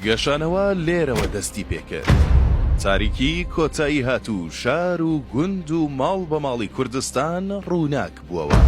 گەشانەوە لێرەوە دەستی پێکرد. تاریکی کۆتایی هات و شار و گوند و ماڵ بە ماڵی کوردستان ڕووناک بووەوە.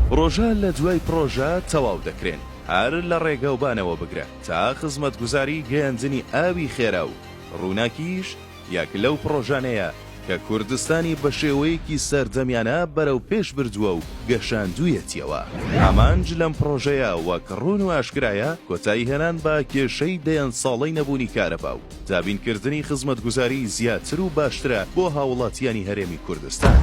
پڕۆژە لە دوای پڕۆژە تەواو دەکرێن، هەر لە ڕێگاوبانەوە بگرە تا خزمەتگوزاری گەیاندنی ئاوی خێرا و ڕووناکیش، یەک لەو پڕۆژانەیە کە کوردستانی بە شێوەیەکی سەردەمیانە بەرەوپێش بردووە و گەشاندوویەتیەوە. ئامانج لەم پڕۆژەیە وەک ڕوون و ئاشکرایە کۆتایی هێنان بە کێشەی دەیان ساڵەی نەبوونی کارەبا و دابین کردنی خزمەتگوزاریی زیاتر و باشترە بۆ هاوڵاتیانی هەرێمی کوردستان.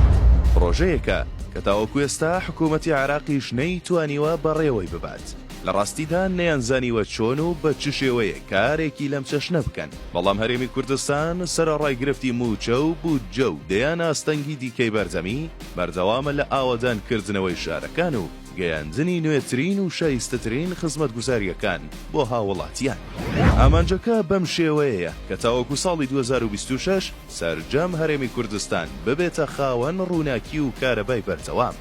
پڕۆژەیەکە کە تاوەکو ئێستا حکوومەتی عێراقیش نەیتوانیوە بەڕێوەی ببات. لە ڕاستیدا نەیانزانیوە چۆن و بە چ شێوەیەک کارێکی لەم چەشنە بکەن. بەڵام هەرێمی کوردستان سەرەڕای گرفتی مووچە و بودجە و دەیان ئاستەنگی دیکەی بەردەمی، بەردەوامە لە ئاوەدانکردنەوەی شارەکان و گەیاندنی نوێترین و شایستەترین خزمەتگوزارییەکان بۆ هاووڵاتیان. ئامانجەکە بەم شێوەیەیە کە تاوەکو ساڵی دوو هەزار و بیست و شەش سەرجەم هەرێمی کوردستان ببێتە خاوەن ڕووناکی و کارەبای بەردەوام.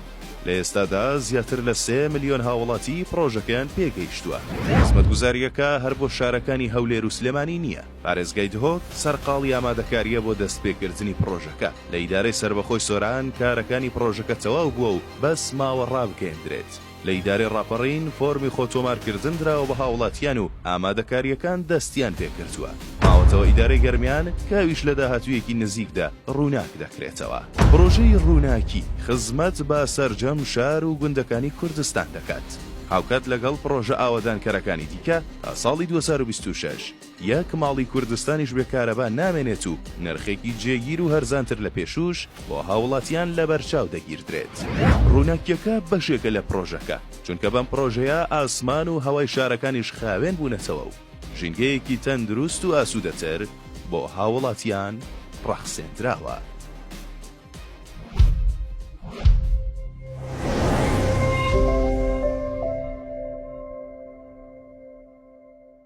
لە ئێستادا زیاتر لە سێ ملیۆن هاوڵاتی پڕۆژەکەیان پێ گەیشتووە. خزمەتگوزارییەکە هەر بۆ شارەکانی هەولێر و سلێمانی نییە، پارێزگای دهۆک سەرقاڵی ئامادەکارییە بۆ دەستپێکردنی پڕۆژەکە، لە ئیدارەی سەربەخۆی سۆران کارەکانی پڕۆژەکە تەواو بووە و بەس ماوە ڕابگەیەندرێت، لە ئیدارەی ڕاپەڕین فۆرمی خۆتۆمارکردن دراوە بە هاوڵاتیان و ئامادەکارییەکان دەستیان پێکردووە. ماوەتەوە ئیدارەی گەرمیان کە ئەویش لە داهاتوویەکی نزیکدا ڕووناک دەکرێتەوە. پڕۆژەی ڕووناکی خزمەت بە سەرجەم شار و گوندەکانی کوردستان دەکات، هاوکات لەگەڵ پڕۆژە ئاوەدانکەرەکانی دیکە تا ساڵی دوو هەزار و بیست و شەش یەک ماڵی کوردستانیش بێ کارەبا نامێنێت و نرخێکی جێگیر و هەرزانتر لە پێشووش بۆ هاوڵاتیان لەبەرچاو دەگیردرێت. ڕووناکییەکە بەشێکە لە پڕۆژەکە، چونکە بەم پڕۆژەیە ئاسمان و هەوای شارەکانیش خاوێن بوونەتەوە و ژینگەیەکی تەندروست و ئاسوودەتر بۆ هاووڵاتیان ڕەخسێندراوە.